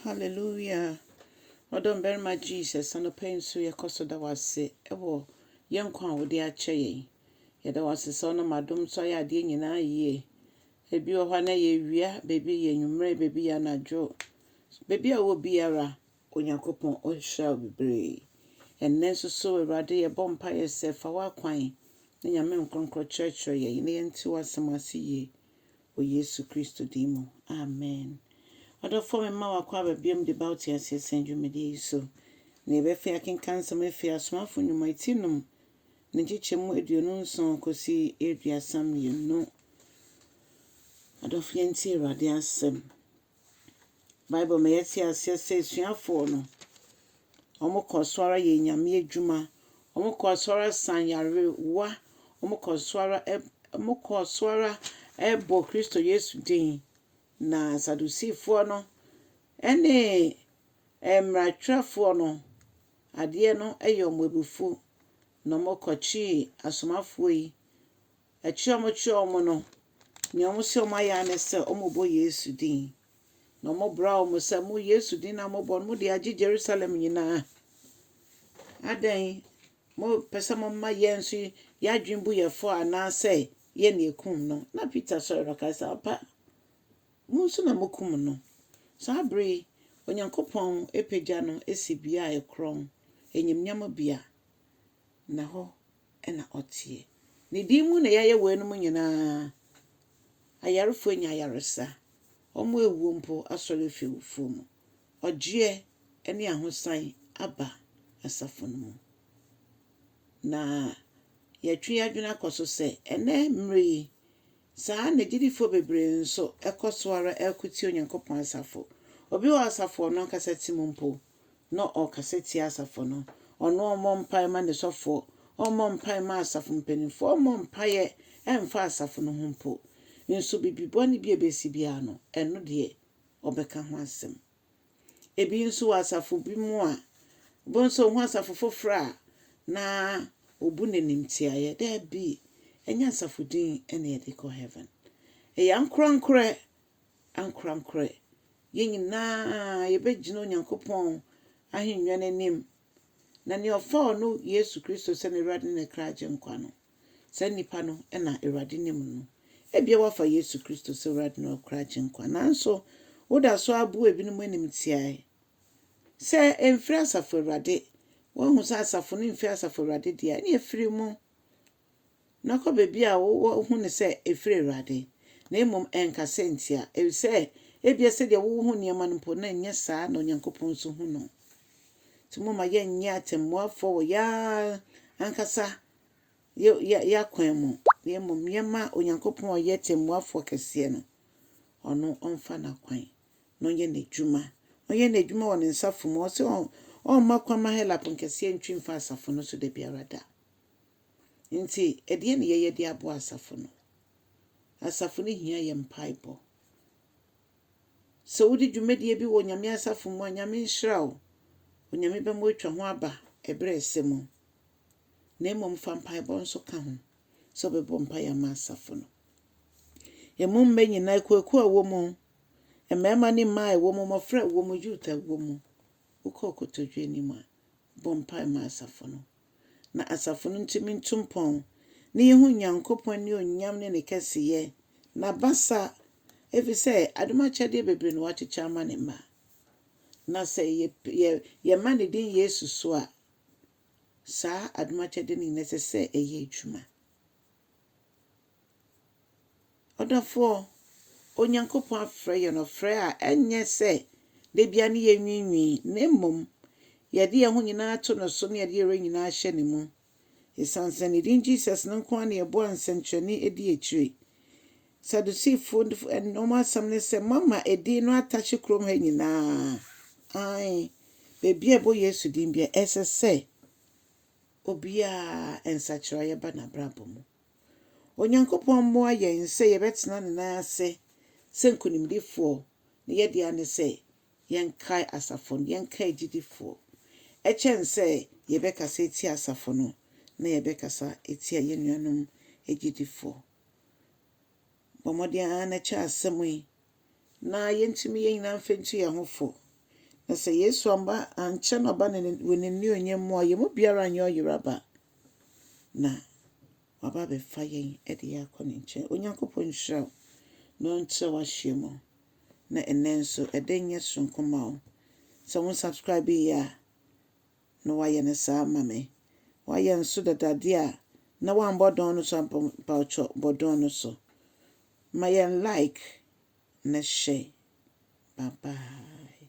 Hallelujah! Ɔdɔ mmarima Jesus, anɔpa yi nso yɛkɔ so da wo ase wɔ yɛn nkwa a wode akyɛ yɛn. Yɛda wo ase sɛ ɔnam adom so ayɛ adeɛ nyinaa yie. Ebi wɔ hɔ a na yɛ awia, baabi yɛ anwummerɛ, baabi yɛ anadwo. Baabi a wɔ biara, Onyankopɔn ɔhyira wo bebree. Ɛnnɛ nso so Awurade yɛbɔ mpaeɛ sɛ fa w'akwan ne Nyame nkorɔnkorɔ kyerɛkyerɛ yɛn na yɛnte w'asɛm ase yie. wɔ Yesu Kristo din mu, amen. Ɔdɔfoɔ mema wo akɔ aba biom de ba wo teaseɛ sɛn dwumadie yi so. Na yɛbɛfei akenkan nsɛm afiri Asomafo Nnwuma ti nom ne nkyekyɛ mu aduonu nson kɔsi aduasa mmienu. Adɔfo yɛntie Awurade asɛm. Bible ma yɛte aseɛ sɛ asuafoɔ no, wɔkɔɔ so ara yɛɛ Nyame adwuma, wɔkɔɔ so ara saa nyarewa, wɔkɔɔ so ara wɔkɔɔ so ara bɔɔ Kristo Yesu din. Na Sadusifoɔ no ne mmaratwerɛfoɔ no, adeɛ no yɛ wɔn abufuo, na wɔkɔkyee asomafoɔ yi, Akyire a wɔkyerɛɛ wɔn no, nea wɔhyɛ wɔn ayɛ ara ne sɛ wɔrebɔ Yesu din. Na wɔbraa wɔn sɛ, Mo Yesu din a mobɔ no, mode agye Yerusalem nyinaa. Adɛn? Mopɛ sɛ moma yɛn nso yɛn adwene bu yɛn fɔ anaasɛ yɛn na yɛkum no? Na Peter sɔre na ɔkae sɛ, Ampa, mo nso na mokum no. Saa bere yi, Onyankopɔn apagya no asi bea a ɛkorɔn, animuonyam bea, na hɔ na ɔteɛ. Ne din mu na yɛayɛ weinom nyinaa. Ayarefo anya ayaresa, wɔawuo mpo asɔre afi awufoɔ mu. Ɔgyeɛ ne ahosan aba asafo no mu. Na yɛatwe yɛn adwene akɔ so sɛ, ɛnnɛ mmerɛ yi, saa ara na gyidifo bebree nso kɔ so ara reko tia Onyankopɔn asafo. Obi wɔ asafo a ɔno ankasa te mu mpo, na ɔrekasa tia asafo no. Ɔno ɔmmɔ mpae mma ne sɔfoɔ, ɔmmɔ mpae mma asafo mpanimfoɔ, ɔmmɔ mpaeɛ mfa asafo no ho mpo. Nso biribi bɔne bi a ɛbɛsi biara no, ɛno deɛ, ɔbɛka ho asɛm. Ebi nso wɔ asafo bi mu a, wobɛhu sɛ ɔhu asafo foforɔ a, na ɔbu no animtiaeɛ. Dabi, ɛnyɛ asafo din na yɛde kɔ heaven. Ɛyɛ ankorankorɛ ankorankorɛ, yɛn nyinaa yɛbɛgyina Onyankopɔn ahennwa no anim. Na nea ɔfaa ɔno Yesu Kristo sɛ n'Awurade ne ne kra agyenkwa no, saa nnipa no na Awurade nim no. Ebia woafa Yesu Kristo sɛ Awurade ne wo kra agyenkwa, nanso woda so ara bu ebinom animtiaae sɛ ɛmfiri Asafo Awurade. Woahu sɛ asafo no mfiri Asafo Awurade deɛ a, ɛnneɛ firi mu. Na kɔ baabi a woahu no sɛ ɛfiri Awurade, na mmom nka sɛ ntia, efisɛ ebia sɛdeɛ wohu nneɛma no mpo, na ɛnyɛ saa na Onyankopɔn nso hu no. Nti momma yɛnnyɛ atɛmmuafoɔ wɔ yɛn ara ankasa yɛn akwan mu, na mmom yɛmma Onyankopɔn a ɔyɛ tɛmmuafoɔ kɛseɛ no, ɔno ɔmfa n'akwan na ɔnyɛ n'adwuma. Ɔnyɛ n'adwuma wɔ ne nsafo mu. Ɔse ɔmma kwan ma Helap nkɛseɛ ntwi mfa asafo no so da biara da. Enti, ɛdeɛn na yɛyɛ de aboa asafo no? Asafo no hia yɛn mpaebɔ. Sɛ wodi dwumadie bi wɔ Nyame asafo mu a, Nyame nhyira wo. Onyame bɛma woatwa ho aba ɛberɛ a ɛsɛ mu. Na mmom fa mpaebɔ nso ka ho sɛ wobɛbɔ mpaeɛ ama asafo no. Ɛmu mmɛ nyinaa, akuakuo a ɛwɔ mu, mmarima ne mmaa a ɛwɔ mu, mmɔfra a ɛwɔ mu, youth a ɛwɔ mu, wokɔ kotodwe anim a, bɔ mpae ma asafo no. na asafo no ntumi ntu mpɔn, na yehu Onyankopɔn anuonyam ne ne kɛseyɛ, n'abasa, efisɛ adom akyɛdeɛ bebree na wakyekyɛ ama ne mma. Na sɛ yɛma ne din Yesu so a, saa adom akyɛdeɛ no nyinaa ɛsɛ sɛ ɛyɛ adwuma. Ɔdɔfoɔ, Onyankopɔn afrɛ yɛn ɔfrɛ a ɛnyɛ sɛ da biara ne yɛnwiinwii, na mmom yɛde yɛn ho nyinaa to no so na yɛde yɛn werɛ nyinaa hyɛ ne mu. Ɛsiane sɛ ne din Jesus no nko ara na yɛboa nsɛnkyerɛnne di akyire. Sadusifo wɔn asɛm ne sɛ moama edin no atahye kurom ha nyinaa. Aane, baabi a ɛbɔ Yesu din biara ɛsɛ sɛ obiara nsakyeraeɛ ba n'abrabɔ mu. Onyankopɔn mmoa yɛn sɛ yɛbɛtena ne nan ase sɛ nkonimdifoɔ. Ne yɛdea ne sɛ yɛnkae asafo no, yɛnkae gyidifoɔ. Ɛkyɛn sɛ yɛbɛkasa atia asafo no, na yɛbɛkasa atia yɛn nuanom agyidifoɔ. Bɔ mmɔden ara na kyɛ asɛm yi. na yentumi yɛn nyinaa mfa ntu yɛn ho fo. Na sɛ Yesu amba ankyɛ na ɔba ne wɔ n'anuonyam mu a, yɛn mu biara nyɛ ɔyeraba, na waba abɛfa yɛn de yɛn akɔ ne nkyɛn. Onyankopɔn nhyira wo na ɔnkyerɛ w'ahyeɛ mu. Na ɛnɛ nso, ɛdɛ nyɛ soronko ma wo. Sɛ wo subscribe yɛ a, na wayɛ no saa ama me. Wayɛ nso dada deɛ a na wambɔ dɔn no so ampa mpaokyɔ bɔ dɔn no so. Ma yɛn like na hyɛ. Bye bye.